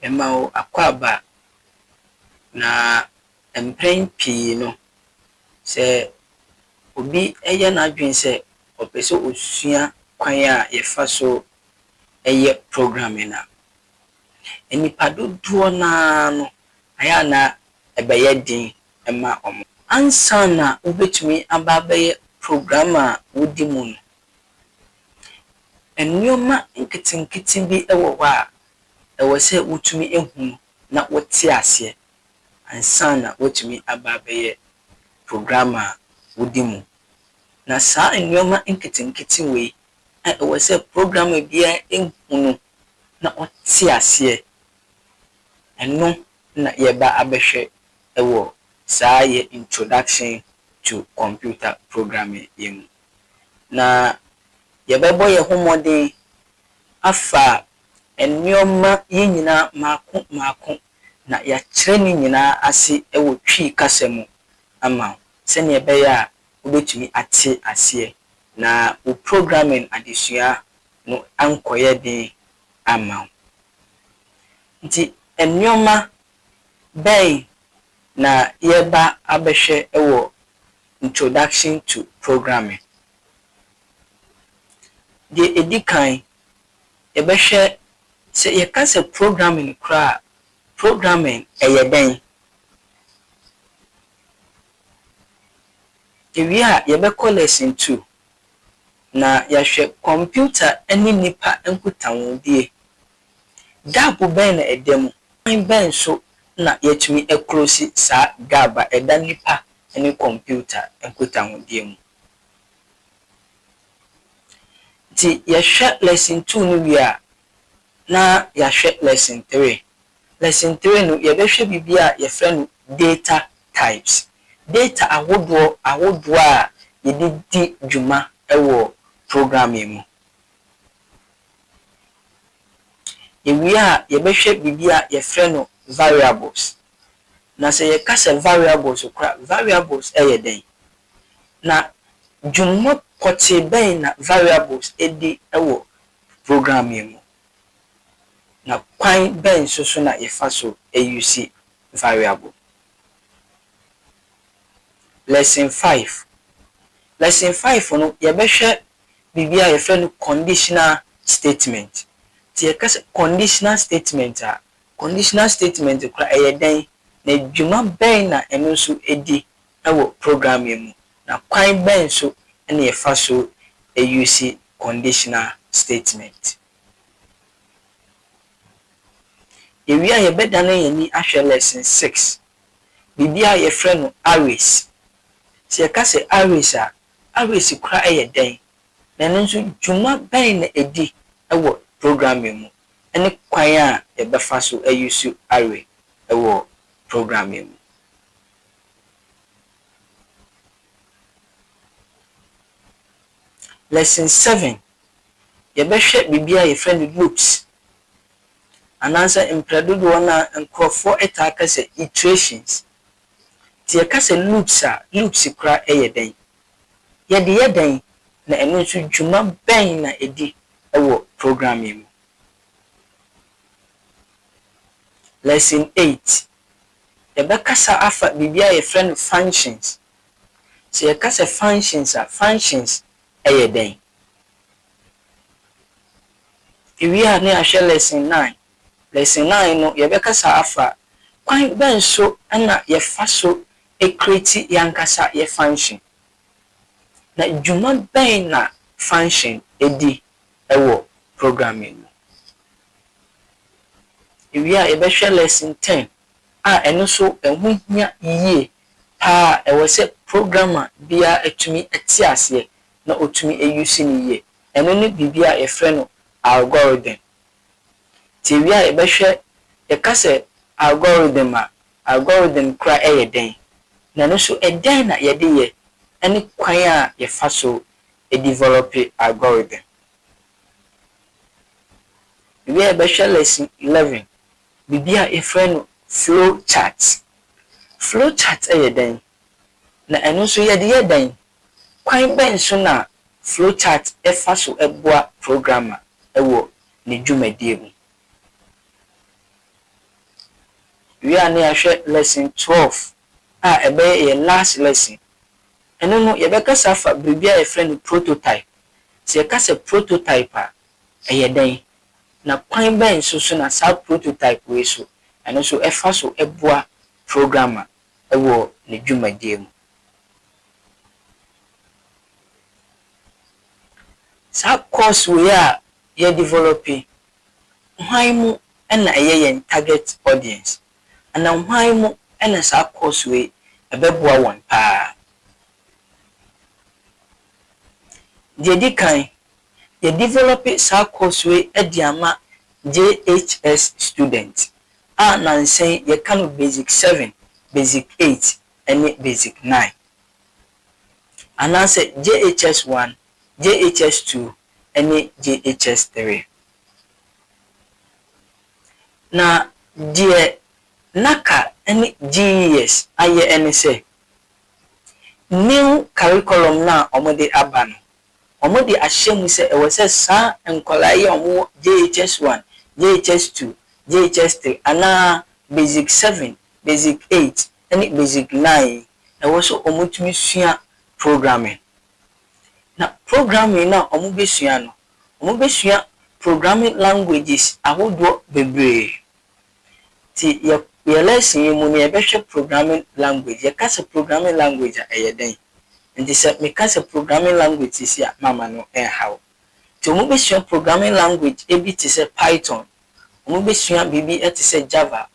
Mema wo akwaaba, na mpɛn pii no, sɛ obi yɛ n'adwene sɛ ɔpɛ sɛ ɔsua kwan a yɛfa so yɛ programming a, nnipa dodoɔ no ara no, ayɛ a na ɛbɛyɛ den ma wɔn. Ansa na wobɛtumi aba abɛyɛ programmer a wodi mu no, Nneɛma nketenkete bi wɔ hɔ a ɛwɔ sɛ wotumi hu na wɔte aseɛ ansa na wɔatumi aba abɛyɛ program a wodi mu. Na saa nneɛma nketenkete wei a ɛwɔ sɛ programmer biara hu no na ɔte aseɛ, ɛno na yɛreba abɛhwɛ wɔ saa yɛn Introduction to Computer Programming yi mu. na yɛbɛbɔ yɛn ho mmɔden afa nneɛma yi nyinaa mmaako mmaako na yɛakyerɛ ne nyinaa ase wɔ Twi kasa mu ama wo sɛnea ɛbɛyɛ a wobɛtumi ate aseɛ na wo programming adesua no ankɔyɛ den amma wo. Nti nneɛma bɛn na yɛreba abɛhwɛ wɔ Introduction to Programming. Deɛ ɛdi kan, yɛbɛhwɛ sɛ yɛka sɛ programming koraa a, programming yɛ dɛn? Yɛwie a, yɛbɛkɔ Lesson Two, na yɛahwɛ kɔmputa ne nnipa nkutahodie. Gap bɛn na ɛda mu? Ɔkwan bɛn so na yɛatumi aklosi saa gap a ɛda nnipa ne kɔmputa nkutahodie mu? Nti yɛhwɛ Lesson Two no wie a, na yɛahwɛ Lesson Three. Lesson Three no, yɛbɛhwɛ biribi a yɛfrɛ no Data Types. Data ahodoɔ ahodoɔ a yɛde di dwuma wɔ programming mu. Yɛwie a, yɛbɛhwɛ biribi a yɛfrɛ no variables. Na sɛ yɛka sɛ variables kora, variables yɛ dɛn? Na dwuma pɔtee bɛn na variables di wɔ program yi mu? Na kwan bɛn nso so na yɛfa so use variable? Lesson Five, Lesson Five no, yɛbɛhwɛ biribi a yɛfrɛ no conditional statement. Nti yɛka sɛ conditional statement a, conditional statement koraa ɛyɛ dɛn, na dwuma bɛn na ɛno nso di wɔ program yi mu, na kwan bɛn nso na yɛfa so use conditional statement. Yɛwie a yɛbɛdane yɛn ani ahwɛ Lesson Six, biribi a yɛfrɛ no arrays. Sɛ yɛka sɛ arrays a, Aweresekura yɛ dɛn, na ɛno nso dwuma bɛn na edi wɔ programming mu, ne kwan a yɛbɛfa so ayusu awe wɔ programming mu? Lesson Seven, Yɛbɛhwɛ biribi a yɛfrɛ no loops, anaasɛ mprɛ dodoɔ no a nkorɔfoɔ taa ka sɛ iterations, Nti yɛka sɛ loops a, loops koraa yɛ dɛn? Yɛde yɛ dɛn, na ɛno nso dwuma bɛn na ɛdi wɔ programming mu? Lesson Eight, Yɛbɛkasa afa biribi a yɛfrɛ no functions. Sɛ yɛka sɛ functions a, functions yɛ dɛn? Yɛwie a na yɛahwɛ Lesson Nine, Lesson Nine no, yɛbɛkasa afa kwan bɛn so na yɛfa so create yɛn ankasa yɛn function, na dwuma bɛn na function di wɔ programming mu. Yɛwie a, yɛbɛhwɛ Lesson Ten a ɛno nso ɛho hia yie pa ara, ɛwɔ sɛ programmer biara tumi te aseɛ na ɔtumi use no yie. Ɛno ne biribi a yɛfrɛ no algorithm. Tiawi a yɛbɛhwɛ, Yɛka sɛ algorithm a, algorithm kora yɛ dɛn, na ɛno nso ɛdɛn na yɛde yɛ ne kwan a yɛfa so develɔpe algorithm. Yɛwie a yɛbɛhwɛ Lesson Eleven, biribi a yɛfrɛ no flow chart. Flow chart yɛ dɛn, na ɛno nso yɛde yɛ dɛn? Kwan bɛn so na flowchart fa so boa programmer wɔ ne dwumadie mu? Wie a na yɛahwɛ lesson twelve a ɛbɛyɛ yɛn last lesson. Ɛno no yɛbɛkasa afa biribi a yɛfrɛ no prototype. Sɛ yɛka sɛ prototype a, ɛyɛ dɛn? Na kwan bɛn nso so na saa prototype wei so ɛno nso ɛfa so boa programmer wɔ ne dwumadie mu? Saa course wei a yɛ develop yi, hwan mu na ɛyɛ yɛn target audience? Anaa hwan mu na saa course wei ɛbɛboa wɔn paa? Deɛ ɛdi kan, yɛ develop saa course wei de ama JHS student a nansa yi yɛka no basic seven, basic eight, ne Basic Nine, anaasɛ JHS One, JHS Two, ne JHS Three. Na deɛ na ka ne GES ayɛ ne sɛ, new curriculum no a wɔde aba no, Wɔde ahyɛ mu sɛ ɛwɔ sɛ saa nkwadaa yi a wɔwɔ JHS one, JHS two, JHS three anaa Basic seven, Basic eight ne Basic nine yi, ɛwɔ sɛ wɔtumi sua programming. Na programming no a wɔbɛsua no, wɔbɛsua programming languages ahodoɔ bebree. Nti yɛ yɛ lesson yi mu no yɛbɛhwɛ programming language. Yɛka sɛ programming language a ɛyɛ dɛn? Nti sɛ meka sɛ programming language seesei a mamma no ɛnha wo. Nti wɔn bɛsua programming language ɛbi te sɛ Python, wɔn bɛsua biribi ɛte sɛ Java,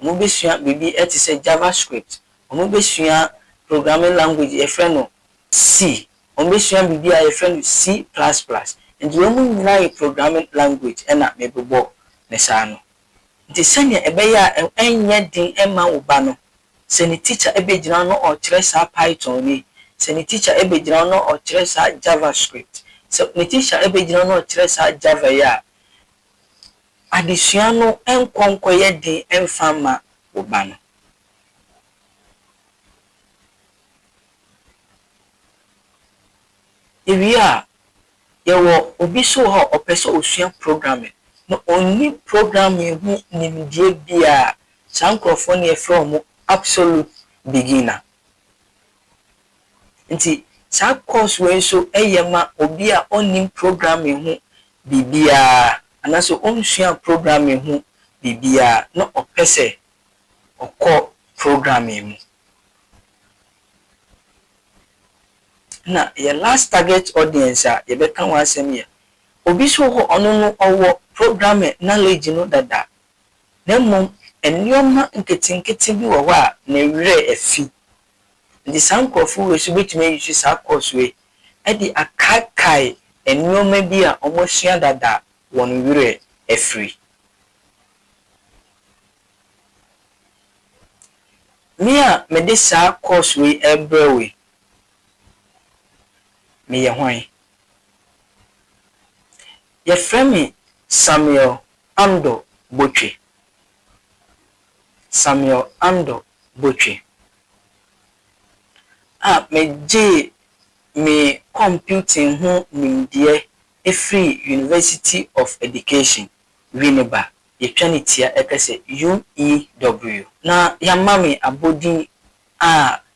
wɔn bɛsua biribi ɛte sɛ Java script, wɔn bɛsua programming language yɛfrɛ no C, wɔn bɛsua biribi a yɛfrɛ no C plus plus. Nti wei mu nyinaa yɛ programming language ɛna mebobɔ no saa no. Enti sɛnea ɛbɛyɛ a ɛrenyɛ den mma wo ba no, sɛ ne tikya begyina hɔ na ɔrekyerɛ saa Python yi, sɛ ne tikya begyina hɔ na ɔrekyerɛ saa JavaScript, sɛ ne tikya begyina hɔ na ɔrekyerɛ saa Java yi a, adesua no nkɔ nkɔyɛ den mfa mma wo ba no. Yewie a, Yɛwɔ obi nso wɔ hɔ a ɔpɛ sɛ ɔsua programming na ɔnni programming ho nimdeɛ biara a, saa nkurɔfoɔ no yɛfrɛ wɔn absolute beginner. Nti saa course wei nso yɛ ma obi a ɔnnim programming ho biribiara anaasɛ ɔnsuaa programming ho biribiara na ɔpɛ sɛ ɔkɔ programming mu. Na yɛ last target audience a yɛbɛka ho asɛm yɛ obi so hɔ ɔno no ɔwɔ programming knowledge no dada na mmom nneɛma nketenkete bi wɔ hɔ a ne werɛ afi. Nti saa nkurɔfo wei nso bɛtumi a use saa course wei de akaakae nneɛma bi a wɔasua dada a wɔn werɛ afiri. Me a mede saa course wei rebrɛ wo yi, Meyɛ hwan? Yɛfrɛ me Samuel Andor Botwe. Samuel Andor Botwe a megyee me kɔmputing ho nimdeɛ firii University of Education, Winneba, yɛtwa ne tia ka sɛ UEW. Na yɛama me abɔdin a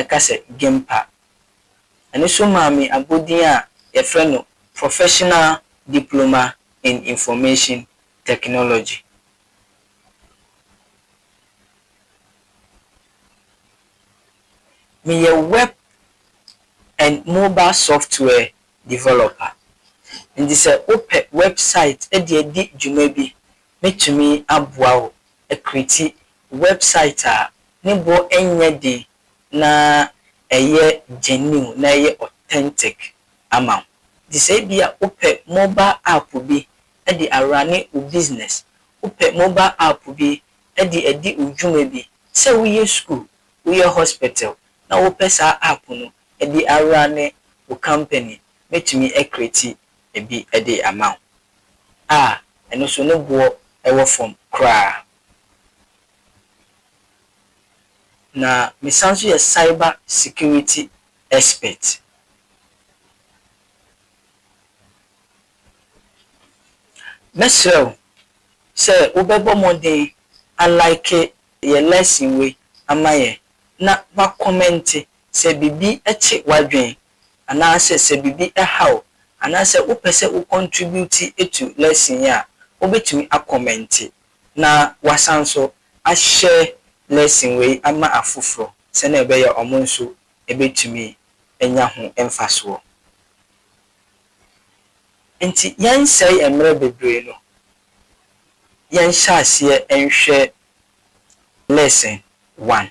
ɛka sɛ Gimpa. Ɛno nso maa me abodin a wɔfrɛ no Professional Diploma in Information Technology. Meyɛ Web and Mobile Software Developer. Enti sɛ wopɛ wɛbsaet de adi dwuma bi Mɛtumi aboa wo akrieti wɛbsaet a ne bo nyɛ den na ɛyɛ gyɛniw na ɛyɛ ɔtɛntik ama wo. Nti sɛ ebia wopɛ mobal apo bi de arane wo bisinɛs, wopɛ mobal apo bi de adi wo dwuma bi, sɛ woyɛ skuul, woyɛ hɔspɛtɛl na wopɛ saa apo no de arane wo kampani mɛtumi akreti bi de ama wo, a ɛno nso ne boɔ wɔ fam koraa. Na mesan nso yɛ cyber security expert. Mɛsrɛ wo sɛ wobɛbɔ mmɔden a like yɛn lesson wei ama yɛn na woakɔmɛnte sɛ biribi kye w'adwene anaasɛ sɛ biribi ɛha wo anaasɛ wopɛ sɛ wo contribute to lesson yi a, wobɛtumi a commente na w'asan nso a share lesson wei ama afoforɔ sɛnea ɛbɛyɛ a wɔn nso ɛbɛtumi anya ho mfasoɔ. Nti yɛnsɛe mmerɛ bebree no, yɛnhyɛ aseɛ nhwɛ lesson one.